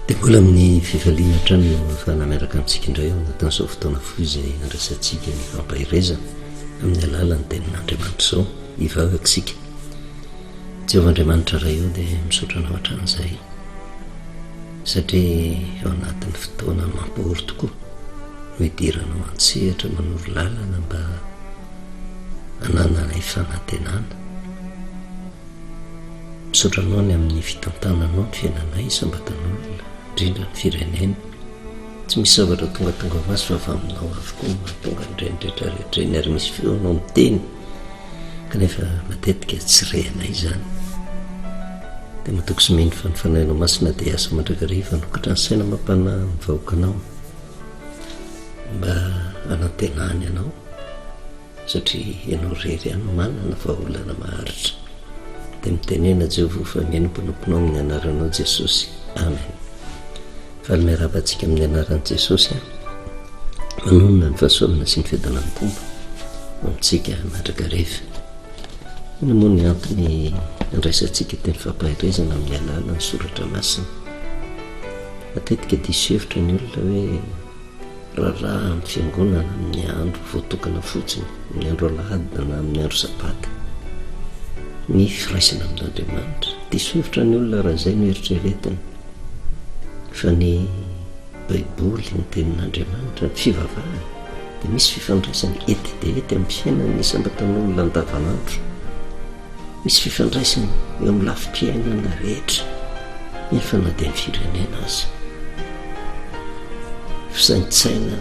Dia mbola amin'ny fifaliana hatrany no ahafahana miaraka amintsika indray ao anatin'izao fotoana fohy izay andrasantsika ny fampaherezana amin'ny alalan'ny tenin'Andriamanitra izao hivavaka isika. Jehovah Andriamanitra Ray eo dia misaotra anao hatramin'izay satria ao anatin'ny fotoana mampahory tokoa no idiranao an-tsehatra manoro lalana mba hanananay fanantenana. Misaotra anao ny amin'ny fitantananao ny fiainanay isam-batan'olona, indrindra ny firenena. Tsy misy zavatra tongatonga ho azy fa avy aminao avokoa no mahatonga an'ireny rehetra rehetra ireny ary misy feonao miteny kanefa matetika tsy rehanay izany. Dia matoky sy mino fa ny fanahinao masina dia hiasa mandrakariva hanokatra ny saina amam-panahin'ny vahoakanao. Mba anantenany anao satria ianao irery ihany no manana vahaolana maharitra. Dia mitenena Jehovah fa mihaino ny mpanomponao amin'ny anaranao Jesosy. Amen. Faly miarahaba antsika amin'ny anaran'i Jesosy. Manonona ny fahasoavana sy ny fiadanan'ny Tompo amintsika matraka rehefa. Inona moa ny antony andraisantsika teny fampaherezana amin'ny alalan'ny soratra masina? Matetika diso hevitra ny olona hoe raharaha amin'ny fiangonana amin'ny andro voatokana fotsiny, amin'ny andro alahady na amin'ny andro sabata, ny firaisana amin'Andriamanitra. Diso hevitra ny olona raha izay no eritreretiny fa ny Baiboly, ny Tenin'Andriamanitra, ny fivavahana dia misy fifandraisany ety dia ety amin'ny fiainan'ny isam-batan'olona andavanandro. Misy fifandraisany eo amin'ny lafim-piainana rehetra nefa na dia ny firenena aza. Fisaintsainana,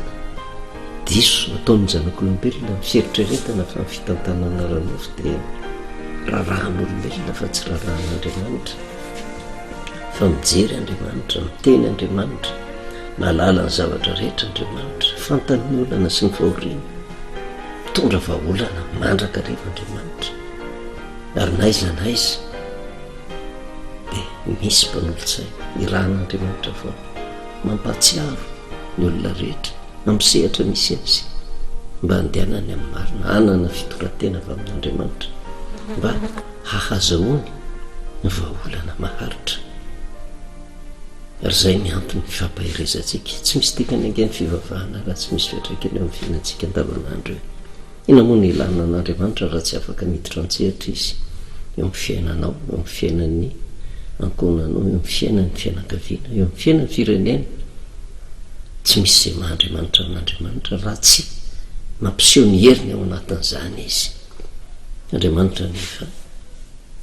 diso ataon'ny zanak'olombelona ny fieritreretana fa ny fitantanana ara-nofo dia rarahan'olombelona fa tsy rarahan'Andriamanitra. Fa mijery Andriamanitra, miteny Andriamanitra, mahalala ny zavatra rehetra Andriamanitra, fantany ny olana sy ny fahoriana. Mitondra vahaolana mandrakariva Andriamanitra, ary n'aiza n'aiza dia misy mpanolotsaina, irahan'Andriamanitra foana. Mampahatsiaro ny olona rehetra amin'ny sehatra misy azy mba handehanany amin'ny marina, hanana fitondran-tena avy amin'Andriamanitra mba hahazahoany ny vahaolana maharitra. Ary izay ny antony ifampaherezantsika. Tsy misy dikany ange ny fivavahana raha tsy misy fiantraikany eo amin'ny fiainantsika andavanandro eo. Inona moa no ilana an'Andriamanitra raha tsy afaka miditra an-tsehatra Izy eo amin'ny fiainanao, eo amin'ny fiainan'ny ankohonanao, eo amin'ny fiainan'ny fianakaviana, eo amin'ny fiainan'ny firenena? Tsy misy izay maha Andriamanitra an'Andriamanitra raha tsy mampiseho ny heriny ao anatin'izany Izy. Andriamanitra anefa.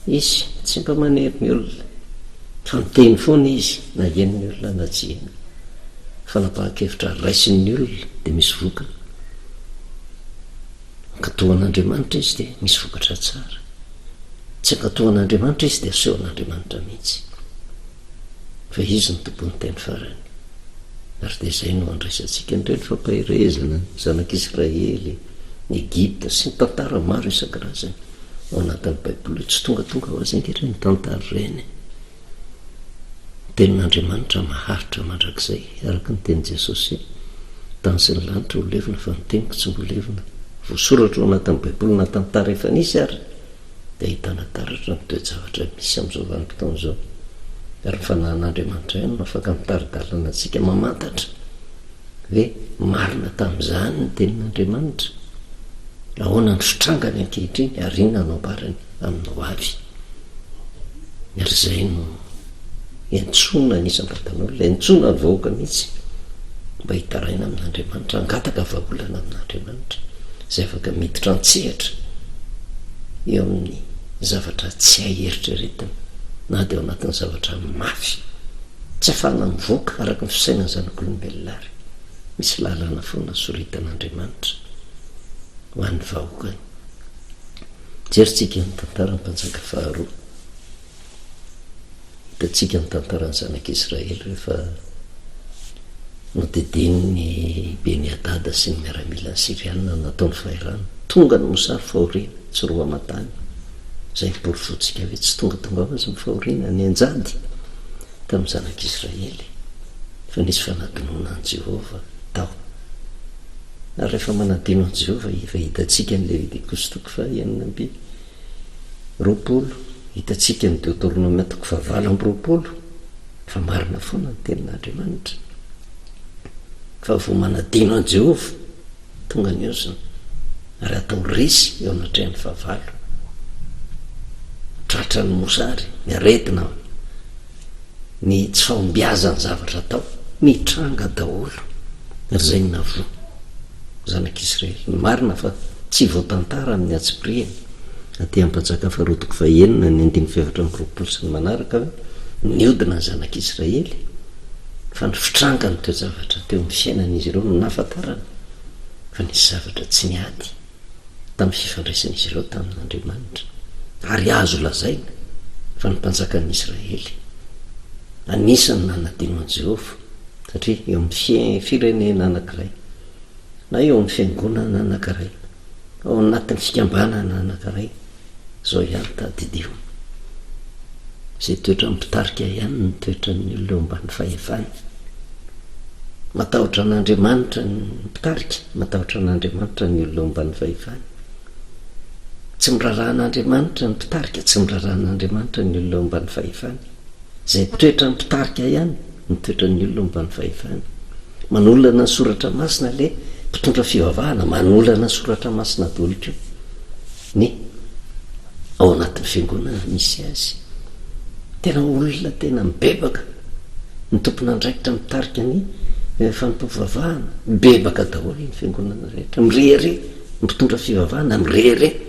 Izy tsy mba manery ny olona fa miteny foana izy na henon'ny olona na tsy henony. Fanapahan-kevitra raisin'ny olona dia misy vokany. Ankatoan'Andriamanitra izy dia misy vokatra tsara. Tsy ankatoan'Andriamanitra izy dia asehon'Andriamanitra mihitsy fa izy no tompon'ny teny farany. Ary dia izay no andraisantsika indray ny fampaherezana ny zanak'Israely, ny Egypta sy ny tantara maro isan-karazany. ao anatin'ny Baiboly tsy tongatonga ho azy ankehitriny ny tantara ireny. Ny tenin'Andriamanitra maharitra mandrakizay, araka ny tenin'i Jesosy, tany sy ny lanitra ho levona fa ny teniko tsy mbola levona. Voasoratra ao anatin'ny Baiboly na tantara efa nisy ary dia ahitana taratra ny toe-javatra misy amin'izao vanim-potoana izao. Ary ny fanahin'Andriamanitra ihany no afaka mitari-dalana antsika mamantatra hoe marina tamin'izany ny tenin'Andriamanitra. Ahoana no fitrangany ankehitriny ary inona no ambarany amin'ny ho avy? Ny ary izay no iantsoana ny isam-batan'olona, iantsoana ny vahoaka mihitsy mba hitaraina amin'Andriamanitra, hangataka vahaolana amin'Andriamanitra izay afaka miditra an-tsehatra eo amin'ny zavatra tsy hay eritreretina na dia ao anatin'ny zavatra mafy tsy afahana mivoaka araka ny fisainan'ny zanak'olombelona ary. Misy lalana foana soritan'Andriamanitra ho an'ny vahoakany. Jerintsika ny tantaran'ny mpanjaka faharoa. Hitantsika ny tantaran'ny zanak'Israely rehefa nodidian'ny Beni-hadada sy ny miaramilany Syriana nataony fahirano. Tonga ny mosary fahoriana, tsy roa aman-tany. Izay ny porofointsika hoe tsy tongatonga ho azy ny fahoriana, nianjady. Tamin'ny Zanak'Israely, efa nisy fanadinoana an'i Jehovah tao. Ary rehefa manadino an'i Jehovah, efa hitantsika ny Levitikosy toko fahenina amby roapolo, hitantsika ny Deoteronomia toko fahavalo amby roapolo, fa marina foana ny Tenin'Andriamanitra, fa vao manadino an'i Jehovah, Tonga ny ozona ary atao resy eo anatrehan'ny fahavalo. Tratra ny mosary, ny aretina, ny tsy fahombiazan'ny zavatra atao. Mitranga daholo ry zainy na voa zanak'Israely. Ny marina fa tsy voatantara amin'ny antsipirihany aty Ampajaka faharoa toko fahenina ny andininy fahefatra amby roapolo sy ny manaraka hoe niodina ny zanak'Israely Fa ny fitrangan'ny toe-javatra teo amin'ny fiainan'izy ireo no nahafantarany fa nisy zavatra tsy niady tamin'ny fifandraisan'izy ireo tamin'Andriamanitra, ary azo lazaina fa ny mpanjakan'ny Israely anisan'ny nanadino an'i Jehovah, satria eo amin'ny firenena anankiray, na eo amin'ny fiangonana anankiray, ao anatin'ny fikambanana anankiray, Zao ihany tadidio. Izay toetra mpitarika ihany ny toetran'ny olona eo ambany fahefany. Matahotra an'Andriamanitra ny mpitarika, matahotra an'Andriamanitra ny olona eo ambany fahefany. Tsy miraharaha an'Andriamanitra ny mpitarika, tsy miraharaha an'Andriamanitra ny olona eo ambany fahefany. Izay toetra mpitarika ihany ny toetran'ny olona eo ambany fahefany. Manolana ny soratra masina ilay mpitondra fivavahana, manolana ny soratra masina daholo koa. Ny ao anatin'ny fiangonana misy azy. Tena olona tena mibebaka, ny tompon'andraikitra mitarika ny fanompoam-pivavahana, mibebaka daholo ny fiangonana rehetra, mirehareha, ny mpitondra fivavahana mirehareha,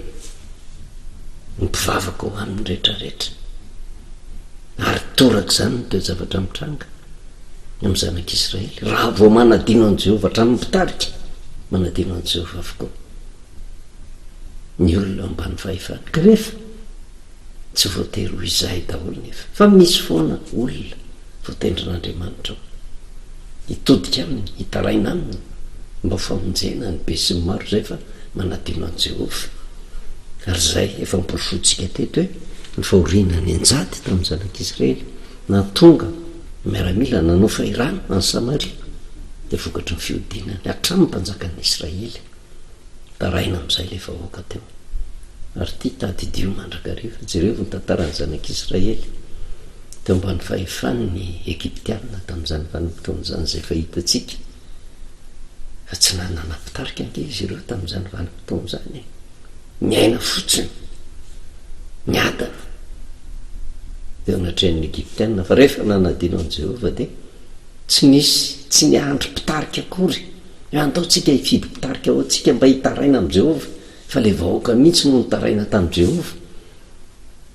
ny mpivavaka ho an'ny rehetra rehetra. Ary toraka izany ny toe-javatra mitranga amin'ny zanak'Israely, raha vao manadino an'i Jehovah hatramin'ny mpitarika, manadino an'i Jehovah avokoa. ny olona ao ambany fahefana kanefa tsy voatery ho izay daholo nefa fa misy foana olona voatendrin'Andriamanitra ao hitodika aminy hitaraina aminy mba ho famonjena ny be sy ny maro izay efa manadino an'i Jehovah ary izay efa noporofointsika teto hoe ny fahoriana nianjady tamin'ny zanak'Israely nahatonga ny miaramila nanao fahirano an'i Samaria dia vokatry ny fihodinany hatramin'ny mpanjakan'ny Israely Taraina amin'izay ilay vahoaka teo. Ary ity, tadidio mandrakariva. Jereo ny tantaran'ny Zanak'Israely teo ambany fahefan'ny Egyptiana tamin'izany vanim-potoan'izany izay efa hitantsika fa tsy nanana mpitarika ange izy ireo tamin'izany vanim-potoana izany e. Niaina fotsiny, niadana teo anatrehan'ny Egyptiana fa rehefa nanadino an'i Jehovah dia tsy nisy tsy niandry mpitarika akory. Antaontsika hifidy mpitarika ho antsika mba hitaraina amin'i Jehovah, fa ilay vahoaka mihitsy no nitaraina tamin'i Jehovah.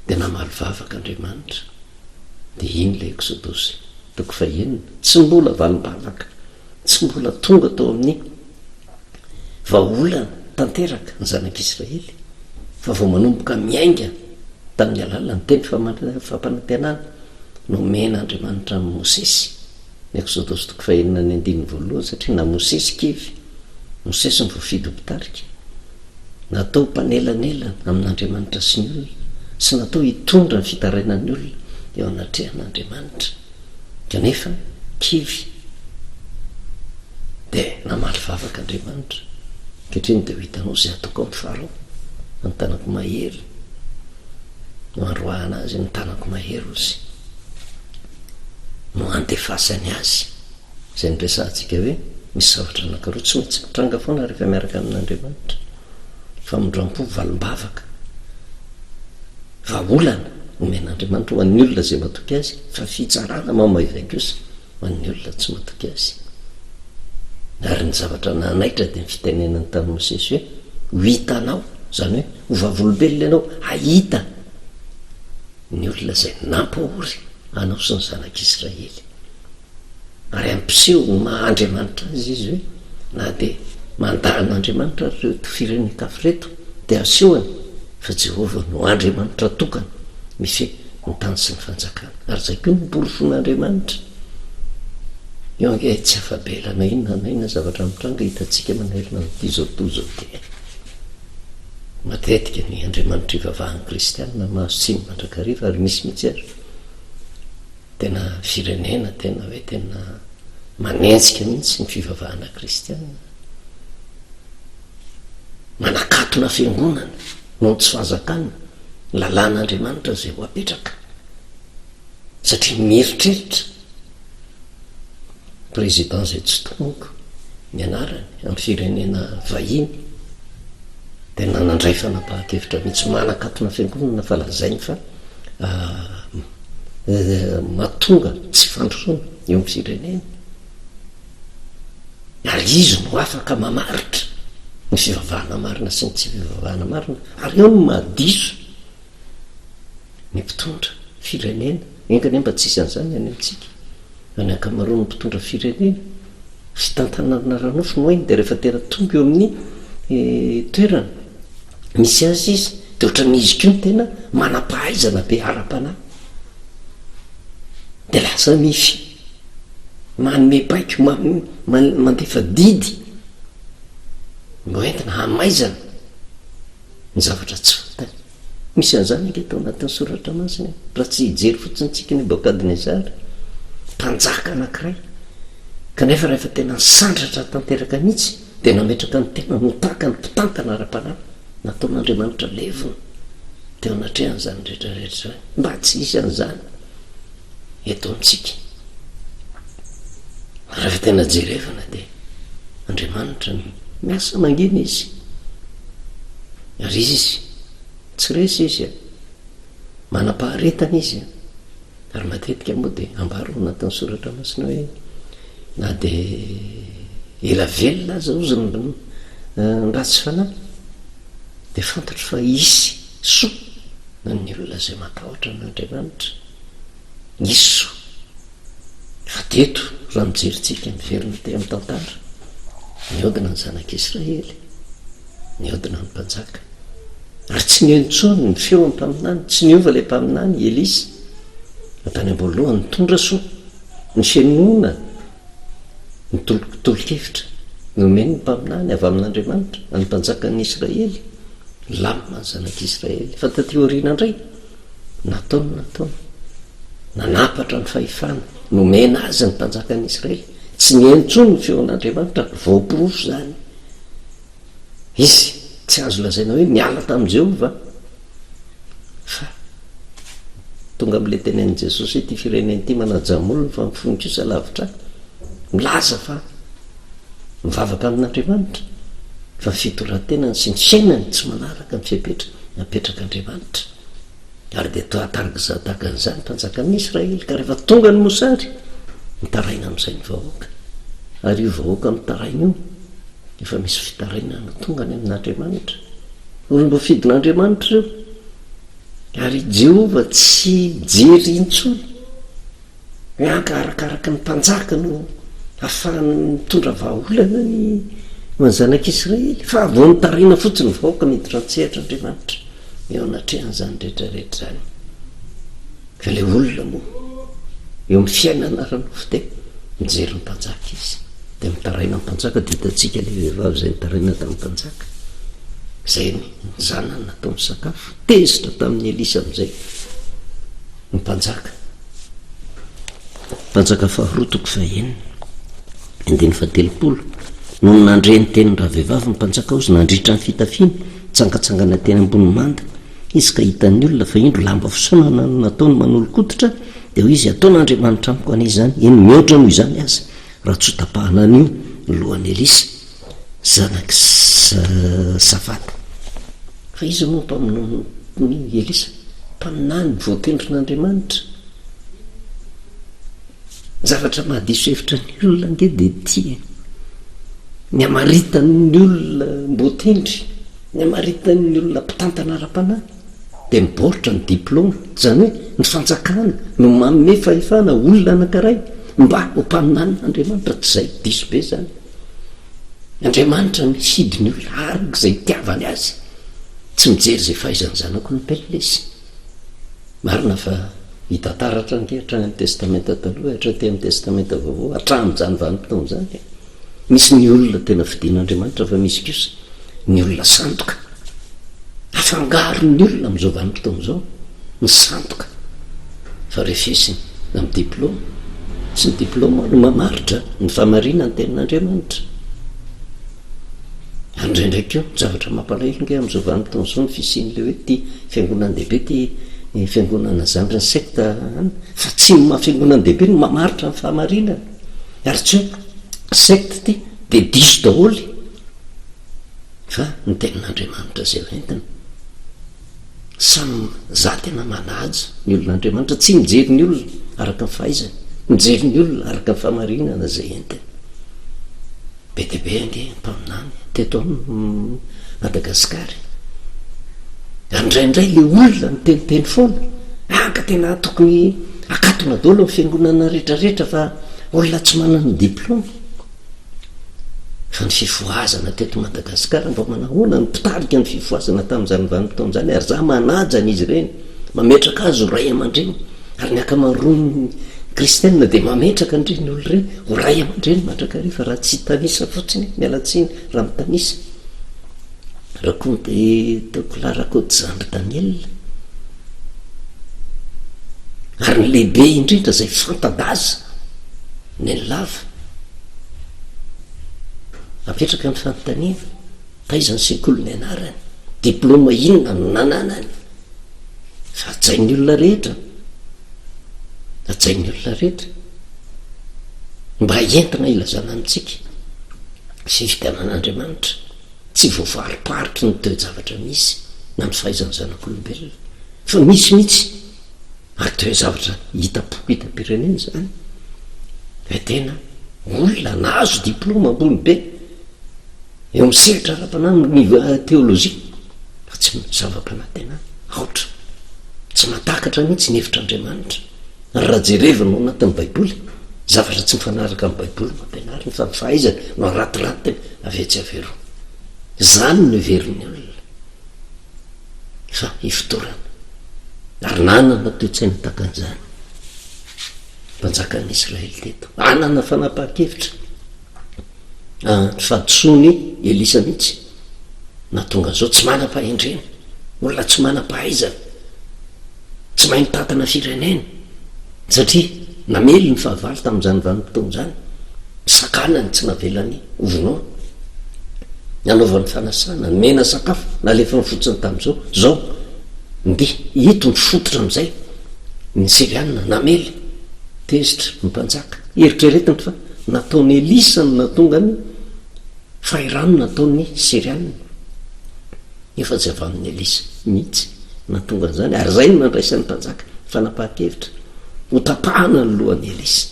Dia namaly vavaka Andriamanitra. Dia iny ilay Eksodosy, toko fahenina. Tsy mbola valim-bavaka, tsy mbola tonga tao amin'ny vahaolana tanteraka ny zanak'Israely, fa vao manomboka miainga tamin'ny alalan'ny teny fampanantenana nomen'Andriamanitra an'i Mosesy. Ny Eksodosy toko fahenina ny andininy voalohany satria na Mosesy i Kevy, Mosesy no voafidy ho mpitarika. Natao ho mpanelanelana amin'Andriamanitra sy ny olona sy natao hitondra ny fitarainan'ny olona eo anatrehan'Andriamanitra. Kanefa, Kevy dia namaly vavaka Andriamanitra, Ankehitriny dia ho hitanao izay hataoko amin'i Farao, amin'ny tanako mahery no handroahana azy, amin'ny tanako mahery hozy. no handefasany azy. Izay niresahantsika hoe misy zavatra anankiroa tsy maintsy mitranga foana rehefa miaraka amin'Andriamanitra, famindrampo, valim-bavaka, vahaolana omen'Andriamanitra ho an'ny olona izay matoky Azy, fa fitsarana mamaivay kosa ho an'ny olona tsy matoky Azy. Ary ny zavatra nanaitra dia ny fitenenany tamin'i Mosesy hoe ho hitanao, izany hoe ho vavolombelona ianao, hahita ny olona izay nampahory anao sy ny zanak'Israely. Ary hampiseho ho maha Andriamanitra azy izy hoe na dia mandà an'Andriamanitra ary ireto firenen-kafa ireto, dia hasehony fa Jehovah no Andriamanitra tokana mifehy ny tany sy ny fanjakana. Ary izay koa no porofon'Andriamanitra. Io ange tsy afa-bela na inona na inona zavatra mitranga hitantsika manerana an'ity izao tontolo izao ity. Matetika ny andriamanitra ivavahan'ny kristianina mahazo tsiny mandrakariva ary misy mihitsy ary tena firenena tena hoe tena manenjika mihitsy ny fivavahana kristianina manakatona fiangonana noho ny tsy fahazakana lalàn'andriamanitra izay ho apetraka satria mieritreritra Président izay tsy tomoka ny anarany amin'ny firenena vahiny dia nanandray fanapahan-kevitra mihitsy manakatona fiangonana fa lazainy fa ah, eh, mahatonga tsy fandrosoana eo amin'ny firenena ary izy no afaka mamaritra ny fivavahana marina sy ny tsy fivavahana marina ary eo no mahadiso ny mpitondra firenena, enga anie mba tsy hisy an'izany any amintsika, fa ny ankamaroan'ny mpitondra firenena fitantanana ara-nofo no hainy, dia rehefa tena tonga eo amin'ny toerana misy azy izy dia ohatran'ny izy koa no tena manam-pahaizana be ara-panahy, dia lasa mif, manome baiko, mandefa didy mba hoentina hamaizana. ny zavatra tsy fantany. Misy an'izany ange tao anatin'ny Soratra Masina e! Raha tsy hijery fotsiny isika Nebokadnezara, mpanjaka anankiray, kanefa rehefa tena nisandratra tanteraka mihitsy, dia nametraka ny tenany ho tahaka ny mpitantana ara-panahy, nataon'Andriamanitra levona teo anatrehany izany rehetra rehetra izany, mba tsy hisy an'izany. eto amintsika. Raha tena jerevana dia Andriamanitra no miasa mangina izy. Ary izy tsy resy izy a. Manam-paharetana izy a. Ary matetika moa dia ambaro ao anatin'ny soratra masina hoe na dia ela velona aza ozy ny ratsy fanahy dia fantatro fa hisy Soa ho an'ny olona izay matahotra an'Andriamanitra. Nisy soa. Fa teto, raha mijery tsika, miverina teo amin'ny tantara, nihodina ny zanak'Israely, nihodina ny mpanjaka. Ary tsy nino intsony ny feon'ny mpaminany, tsy niova ilay mpaminany, i Elisa. Fa tany am-boalohany, nitondra soa, ny fenona, ny tolokotolo-kevitra nomen'ny mpaminany avy amin'Andriamanitra an'ny mpanjakan'ny Israely, Lamina ny zanak'i Israely. Fa taty aoriana indray, natao ny nataony. Nanapatra ny fahefana nomena azy ny mpanjakan'ny Israely. Tsy niheno intsony ny feon'Andriamanitra. Voaporofo izany. Izy tsy azo lazaina hoe niala tamin'i Jehovah. Fa tonga amin'ilay tenenin'i Jesosy hoe ity firenena ity manaja molony fa mifono kosa lavitra ahy. Milaza fa mivavaka amin'Andriamanitra fa ny fitondran-tenany sy ny fiainany tsy manaraka ny fepetra napetrak'Andriamanitra. Ary dia toa tarak'izany tahaka an'izany ny fanjakan'ny Israely ka rehefa tonga ny mosary mitaraina amin'izay ny vahoaka. Ary io vahoaka mitaraina io efa misy fitarainana tonga any amin'Andriamanitra. Olona fidin'Andriamanitra ireo, ary i Jehovah tsy mijery intsony hoe anga arakaraka ny mpanjaka no hahafahany mitondra vahaolana ny ho an'ny zanak'Israely, fa vao nitaraina fotsiny ny vahoaka miditra an-tsehatra Andriamanitra eo anatrehan'izany rehetra rehetra izany. Ka ilay olona moa eo amin'ny fiainana ara-nofo dia mijery ny mpanjaka izy, dia mitaraina ny mpanjaka, dia hitantsika ilay vehivavy izay nitaraina tamin'ny mpanjaka, izay ny zanany nataony sakafo, tezitra tamin'i Elisa amin'izay ny mpanjaka. Mpanjaka faharoa toko fahenina, andininy fahatelopolo, nony nandre ny tenin'ny ravehivavy ny mpanjaka hozy nandritra ny fitafiany, nitsangantsangana teny ambony manda, Izy ka hitan'ny olona fa indro lamba fisaonana no nataony manolokototra, dia hoy izy, Ataon'Andriamanitra amiko anie izany, eny, mihoatra noho izany aza, raha tsy ho tapahana anio ny lohan'i Elisa, zanak'i Safata. Fa iza moa ny mpaminan'i Elisa? Mpaminany voatendrin'Andriamanitra. Ny zavatra mahadiso hevitra ny olona ange dia ity e! Ny hamaritan'ny olona mboatendry. Ny hamaritina ny olona mpitantana ara-panahy dia mibaoritra ny diplaoma, izany hoe ny fanjakana no manome fahefana olona anankiray mba ho mpaminanin' Andriamanitra, tsy izay? Diso be izany. Andriamanitra no hifidy ny olona araka izay itiavany azy, tsy mijery izay fahaizan'ny zanako ny mplesy. Marina fa mitantara hatrany ke hatrany amin'ny Testamenta Taloha, hatraty amin'ny Testamenta Vaovao, hatramin'izany vanim-potoana izany dia misy ny olona tena fidin'Andriamanitra fa misy kosa ny olona sandoka. Afangaron'ny olona amin'izao vanim-potoana izao ny sandoka fa refesiny amin'ny diplaoma. Tsy ny diplaoma no mamaritra ny fahamarinan'ny Tenin'Andriamanitra. Ary indraindray koa, zavatra mampalahelo ange amin'izao vanim-potoana izao ny fisian'ilay hoe ity fiangonan-dehibe ity fiangonana zandriny secte an, fa tsy ny maha fiangonan-dehibe no mamaritra ny fahamarinana, ary tsy hoe secte ity dia diso daholo e! Fa ny tenin'Andriamanitra izay ho entina. Samy za tena manaja ny olona Andriamanitra tsy mijery ny olona araka ny fahaizany mijery ny olona araka ny fahamarinana izay entiny be dia be ange mpaminany teto am Madagasikara ary indraindray le olona miteniteny foana ah ka tena tokony akatona daholo ny fiangonana rehetrarehetra fa olona tsy manana diplaoma Ny fifohazana teto Madagasikara mba manahoana ny mpitarika ny fifohazana tamin'izany vanim-potoana izany ary izaho manaja an'izy ireny mametraka azy ho ray aman-dreny ary ny ankamaroan'ny kristianina dia mametraka an'ireny olona ireny ho ray aman-dreny mandrakariva raha tsy hitanisa fotsiny aho, miala tsiny raha mitanisa. Raconte Tocola Rakotozandry Daniel ary ny lehibe indrindra izay fanta-daza. Neny lava. Apetraka ny fanontaniana, taiza ny sekoly nianarany? Diploma inona no nananany? Fa hajain'ny olona rehetra. Hajain'ny olona rehetra. Mba entina hilazana amintsika sy figanan'Andriamanitra. Tsy voavaroparitry ny toe-javatra misy na ny fahaizan'ny zanak'olombelona. Fa misy mihitsy. Ary tena zavatra hita poketam-pirenena izany, fa tena olona nahazo diplaoma ambony be eo amin'ny sehatra ara-panahy amin'ny teolojia fa tsy zava-panantenana, aotra, tsy mahatakatra mihitsy ny hevitr'Andriamanitra ary raha jerevina ao anatin'ny Baiboly, zavatra tsy mifanaraka amin'ny Baiboly no ampianariny fa ny fahaizany no arantirantina avy etsy avy eroa. Izany no heverin'ny olona. fa ifotorana, ary nanana toe-tsaina tahaka an'izany ny mpanjakan'ny Israely teto. Hanana fanapahan-kevitra ny fahadisoan'i Elisa mihitsy nahatonga an'izao, tsy manam-pahendrena, olona tsy manam-pahaizana. Tsy mahay mitantana firenena satria namely ny fahavalo tamin'izany vanim-potoana izany, sakana ny tsy navelany hovonoina, nanaovany fanasana, nomena sakafo, nalefany fotsiny tamin'izao, izao ndeha ito mifototra amin'izay ny Siriana namely, tezitra ny mpanjaka, eritreretiny fa nataon'i Elisa no nahatonga ny fahirano nataon'ny Siriana. Efa tsy avy amin'i Elisa mihitsy no nahatonga an'izany, ary izay no nandraisan'ny mpanjaka fanapahan-kevitra hotapahana ny lohan'i Elisa.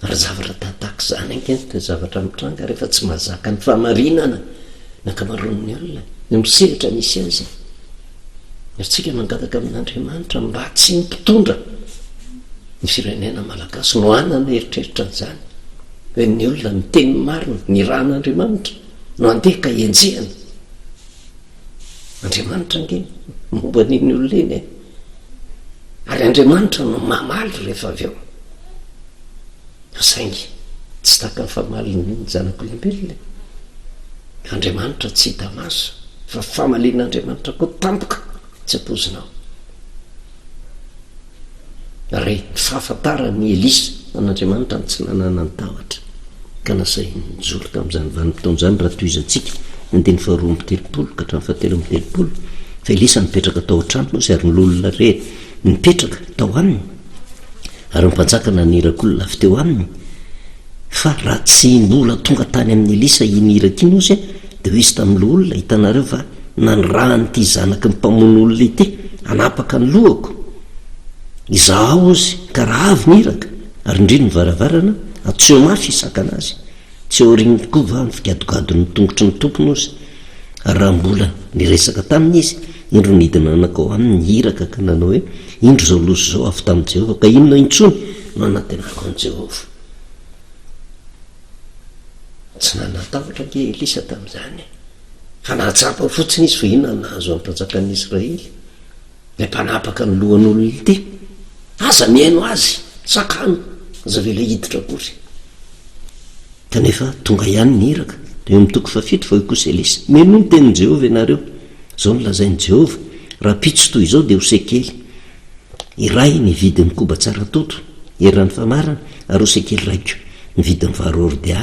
Ary zavatra tahtak izany ange no zavatra mitranga rehefa tsy mahazaka ny fahamarinana ny ankamaroan'ny olona, eo amin'ny sehatra misy azy. Ary tsika mangataka amin'Andriamanitra mba tsy ny mpitondra ny firenena malagasy no hanana eritreritra an'izany, fa ny olona miteny ny marina, ny rahan'Andriamanitra. no andeha ka enjehina. Andriamanitra ange momba an'iny olona iny e. Ary Andriamanitra no mamaly rehefa avy eo. Saingy tsy taka ny famalin'ny zanak'olombelona e. Andriamanitra tsy hita maso fa famalian'Andriamanitra koa tampoka. Tsy ampoizinao. Ary ny fahafantaran' i Elisa an' Andriamanitra ny tsy nananany tahotra, ka nasahiny nijoro tamin' izany vanim-potoana izany, raha tohizantsika ny andininy faharoa amby telopolo ka hatramin'ny fahatelo amby telopolo, fa Elisa nipetraka tao an-tranony izy, ary ny lolona re nipetraka tao aminy, ary ny mpanjaka nanirak'olona avy teo aminy, Fa raha tsy nola tonga tany amin'i Elisa iny hira ity Nosy an, dia ho izy tamin'ny loholona, hitanareo va, nanirahan'ity zanaky ny mpamono olona ity, hanapaka ny lohako. Izaho ao hozy, ka raha avy ny iraka, ary indrindra ny varavarana, atsoy mafy hisakana azy. Tsy ao aoriany tokoa va ny figadogadon'ny tongotry ny Tompo Nosy? Ary raha mbola niresaka taminy izy, indro nidina nanakao aminy ny iraka ka nanao hoe, Indro izao loza izao avy tamin'i Jehovah, ka inona intsony no hanantenako an'i Jehovah? Tsy nanatahotra anie Elisa tamin'izany, fa nahatsapa fotsiny izy fa inona no nahazo amim-panjakan'ny Israely, ilay mpanapaka ny lohan'olon'ny te. Aza mihaino azy, sakano, aza avela hiditra akory. Kanefa tonga ihany ny iraka. Eo amin'ny toko fahafito fa hoy kosa Elisa, Menoa ny tenin'i Jehovah ianareo. Izao no lazain'i Jehovah, Rahampitso toy izao dia ho sekely. Iray ny vidin'ny koba tsara toto, eran'ny famarana, aroa sy kely raiko ny vidin'ny vary hordea,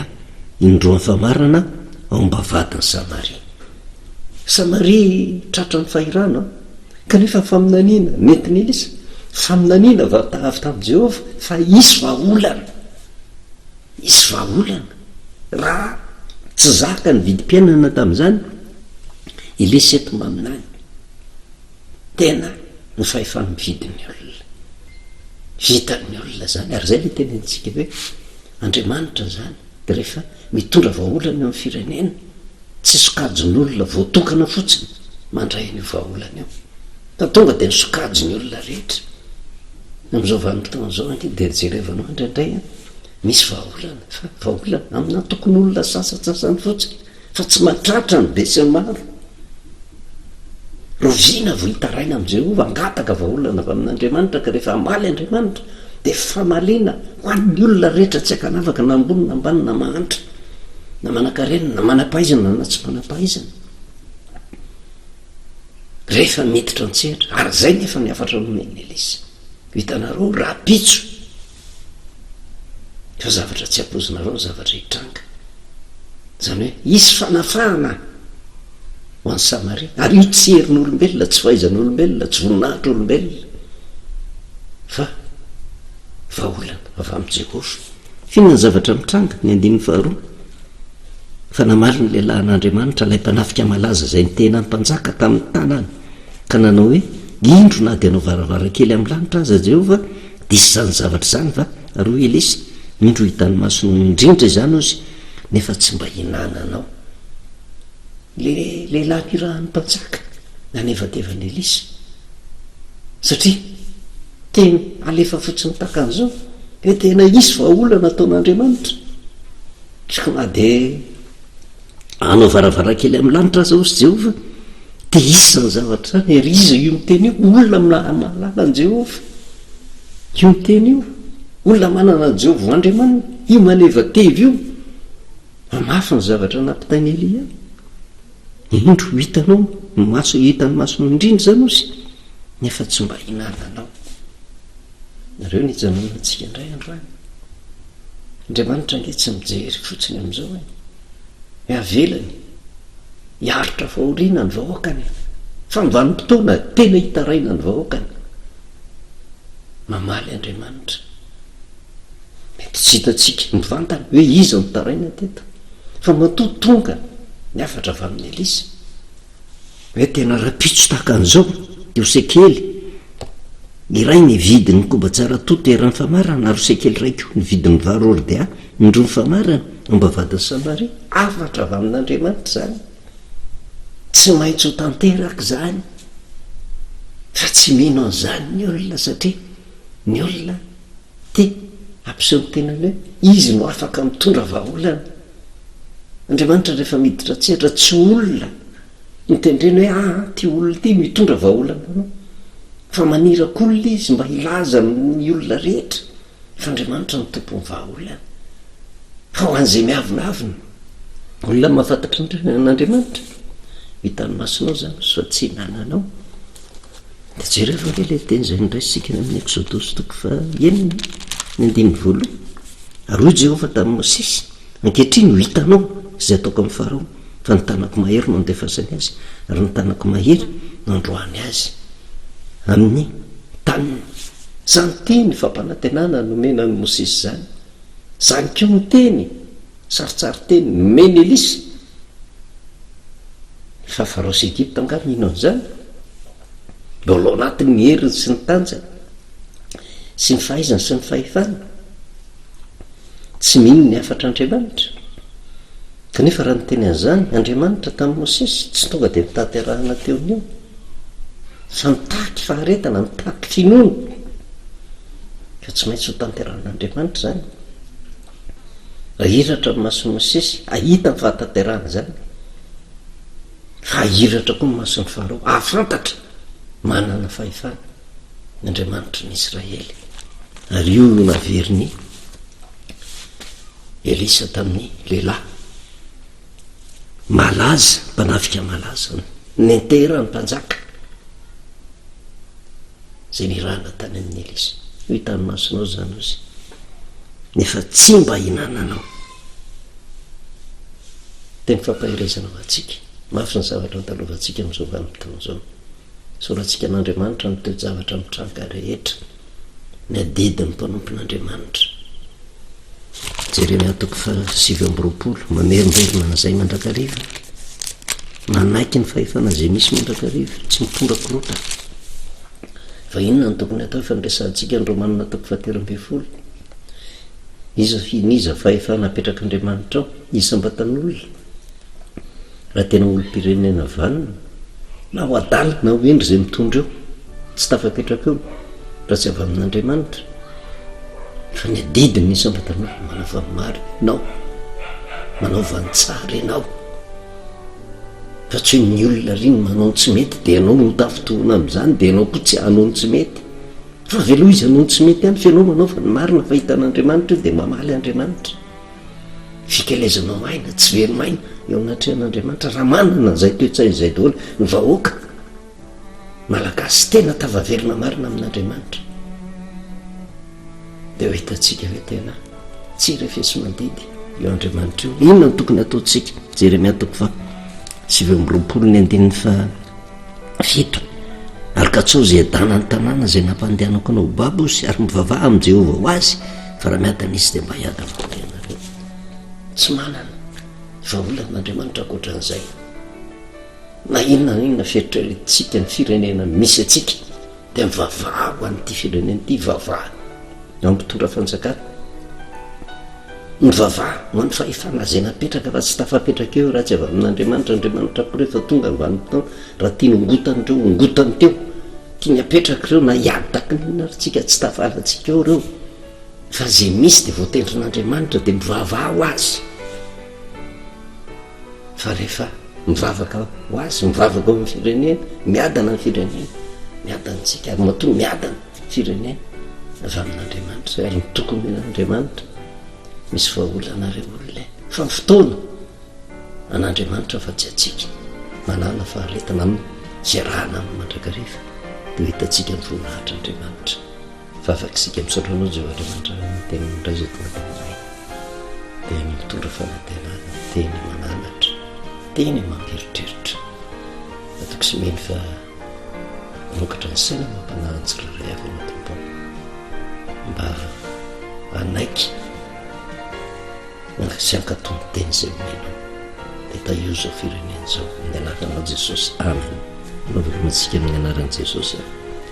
indroa ny famarana, aomba vadin'i Samaria. Samaria tratran'ny fahirano, kanefa ny faminaniana nentin'i Elisa, faminaniana avy tamin'i Jehovah fa hisy vahaolana. Hisy vahaolana. Raha tsy zaka ny vidim-piainana tamin'izany, Elisa eto maminany. Tena ho fahefam-mividy ny olona. Vitan'ny olona izany, ary izay ilay tenenintsika hoe Andriamanitra izany dia rehefa mitondra vahaolana eo amin'ny firenena, tsy sokajin'olona voatokana fotsiny mandray an'io vahaolana io, fa tonga dia ny sokajin'ny olona rehetra. Amin'izao vanim-potoana izao ange dia jerevanao indraindray an, misy vahaolana, fa vahaolana aminà tokon'olona sasantsasany fotsiny. Fa tsy mahatratra ny besinimaro. Rovina vao hitaraina amin'i Jehovah, hangataka vahaolana avy amin'Andriamanitra, ka rehefa hamaly Andriamanitra, dia famaliana ho an'ny olona rehetra tsy ankanavaka, na ambony na ambany, na mahantra na manankarena, na manam-pahaizana na tsy manam-pahaizana, rehefa miditra an-tsehatra. Ary izay nefa ny hafatra nomen'i Elisa. Hitanareo, rahampitso! Fa zavatra tsy ampoizinareo ny zavatra hitranga. Izany hoe hisy fanafahana ho an'i Samaria. Ary io tsy herin'olombelona, tsy fahaizan'olombelona, tsy voninahitr'olombelona fa vahaolana avy amin'i Jehovah. Inona ny zavatra mitranga? Ny andininy faharoa, Fa namaly ny lehilahy an'Andriamanitra, ilay mpanafika malaza izay nitehina ny mpanjaka tamin'ny tanany, ka nanao hoe, Indro, na dia hanao varavarankely amin'ny lanitra aza Jehovah, Diso izany zavatra izany va ry oa Elisa? Indro hitan'ny masonao indrindra izany ozy nefa tsy mba hinananao. Le lehilahy nirahan'ny mpanjaka nanevateva an'i Elisa satria teny alefa fotsiny takan'izao dia tena hisy vahaolana ataon'Andriamanitra. Sao na dia. Hanao varavarankely amin'ny lanitra aza hozy Jehovah, dia hisy izany zavatra izany. Ary iza io miteny io? Olona mahalala an'i Jehovah io miteny io. Olona manana an'i Jehovah ho Andriamaniny. Io manevateva io mamafy ny zavatra nampitain'i Elia. Indro, ho hitanao ny maso, hitan'ny masonao indrindra izany hozy, nefa tsy mba hihinananao. Nareo nijanona antsika indray androany. Andriamanitra ange tsy mijery fotsiny amin'izao e. Ny avelany hiaritra fahoriana ny vahoakany e. Fa ny vanim-potoana tena hitaraina ny vahoakany. Mamaly Andriamanitra. Mety tsy hitantsika mivantana hoe iza no taraina teto. Fa matoa tonga ny hafatra avy amin'i Elisa. Hoe tena rahampitso tahaka an'izao teo sekely iray ny vidin'ny koba tsara toa teran'ny famarana ary sekely iray koa ny vidin'ny vary ordia indroa ny famarana ambavahadin'i Samaria. Hafatra avy amin'Andriamanitra izany. Tsy maintsy ho tanteraka izany. Fa tsy mino an'izany ny olona satria ny olona te hampiseho ny tenany hoe izy no afaka mitondra vahaolana. Andriamanitra rehefa miditra an-tsehatra tsy olona no tendrena hoe aa ity olona ity no hitondra vahaolana anao fa maniraka olona izy mba hilaza amin'ny olona rehetra fa Andriamanitra no tompon'ny vahaolana fa ho an'izay miavonavona olona mahafantatra an'Andriamanitra ny tany masonao izany fa tsy nananao Dia jereo ve ilay teny izay noraisintsika any amin'ny Ekzodosy toko fahenina, ny andininy voalohany. Ary hoy Jehovah tamin'i Mosesy, Ankehitriny ho hitanao izay ataoko amin'i Farao, fa ny tanako mahery no andefasany azy, ary ny tanako mahery no androahany azy amin'ny taniny. Izany teny fampanantenana nomena an'i Mosesy izany, izany koa ny teny. Sarintsarin-teny, Menelis. Ny fahavarao sy Egypta angaha mino an'izany? Mbola ao anatin'ny heriny sy ny tanjany sy ny fahaizany sy ny fahefany? Tsy mino ny hafatr'Andriamanitra. Kanefa raha niteny an'izany Andriamanitra tamin'i Mosesy, tsy tonga dia notanterahana teo ny eo fa mitaky faharetana, mitaky finoana. Ka tsy maintsy hotanterahin'Andriamanitra izany. Ahiratra ny mason'i Mosesy hahita ny fahatanterahana izany, fa hahiratra koa ny mason'i Farao hahafantatra manana fahefana ny Andriamanitry ny Israely. Ary io no naverin'i Elisa tamin'ny lehilahy. malaza, mpanafika malaza, nentera ny mpanjaka, zay nirahana tany amin'ny Elisa. Ho hitan'ny masonao zany ozy. Nefa tsy mba hinananao. Teny fampaherezana ho antsika. Mafy ny zavatra antalovantsika amin'izao vanim-potoana izao. Soratsika an'Andriamanitra ny toe-javatra mitranga rehetra. ny adidin'ny mpanompon'Andriamanitra. Jeremia toko faha sivy amby roapolo, mamerimberina an'izay mandrakariva, manaiky ny fahefana izay misy mandrakariva, tsy mitondra korota. Fa inona no tokony hatao efa niresahantsika ny Romanina toko fahatelo ambin'ny folo? Iza fihiny iza fahefana apetrak'Andriamanitra ao? Iza mba tan'olona? Raha tena olom-pirenena vanona, na ho adaly na ho hendry izay mitondra eo, tsy tafapetraka eo raha tsy avy amin'Andriamanitra, fa ny adidiny ny isam-batan'olona manao valimarina ianao, manao valintsara ianao, fa tsy hoe ny olona ary ny manao ny tsy mety dia ianao no tafintohina amin'izany dia ianao koa tsy hanao ny tsy mety, fa avy aloha izy hanao ny tsy mety ihany fa ianao manaova ny marina fa hitan'Andriamanitra io dia mamaly Andriamanitra. Fikelezanao aina tsy velon'aina eo anatrehan'Andriamanitra raha manana an'izay toe-tsaina izay daholo ny vahoaka Malagasy tena tafaverina marina amin'Andriamanitra dia ho hitantsika hoe tena tsy refesi-mandidy io Andriamanitra io. Inona no tokony hataontsika? Jeremia toko faha sivy amby roapolo ny andininy faha Fito, Ary katsaho izay adanan'ny tanàna izay nampandehanako anao ho babo sy ary mivavaha amin'i Jehovah ho azy, fa raha miadana izy, dia mba hiadana ho ahy ianareo. Tsy manana vahaolan'Andriamanitra ankoatra an'izay. Na inona na inona fieritreretintsika ny firenena misy antsika, Dia mivavaha ho an'ity firenena ity, vavaha eo amin'ny mpitondra fanjakana, mivavaha ho an'ny fahefana izay napetraka fa tsy tafapetraka eo raha tsy avy amin'Andriamanitra, Andriamanitra koa rehefa tonga ny vanim-potoana raha tiany hongotana ireo hongotany teo, tiany hapetraka ireo na hiady takin'inona ary tsika tsy tafalantsika eo ireo fa izay misy dia voatendrin'Andriamanitra dia mivavaha ho azy. Fa rehefa mivavaka ho azy, mivavaka ho an'ny firenena, miadana ny firenena, miadana antsika ary matoa miadana ny firenena avy amin'Andriamanitra ary ny tokony ho an'Andriamanitra. Misy vahaolana ireo olona e! Fa ny fotoana an'Andriamanitra fa tsy antsika. Manàna faharetana amin'ny fiarahana aminy mandrakariva dia ho hitantsika ny voninahitr'Andriamanitra. Vavak'isika misaotra anao Jehovah Andriamanitra ary ny teninao indray izay tonga tao aminay dia ny mitondra fanantenana, teny mananatra, teny mampieritreritra. Matoky sy mino fa mamokatra ny saina mampanahy ny tsirairay avy ianao Tompo ao. Mba hanaiky sy hankato ny teny izay omenao dia tahio izao firenena izao amin'ny anaranao Jesosy. Amen. Novelimantsika amin'ny anaran'i Jesosy.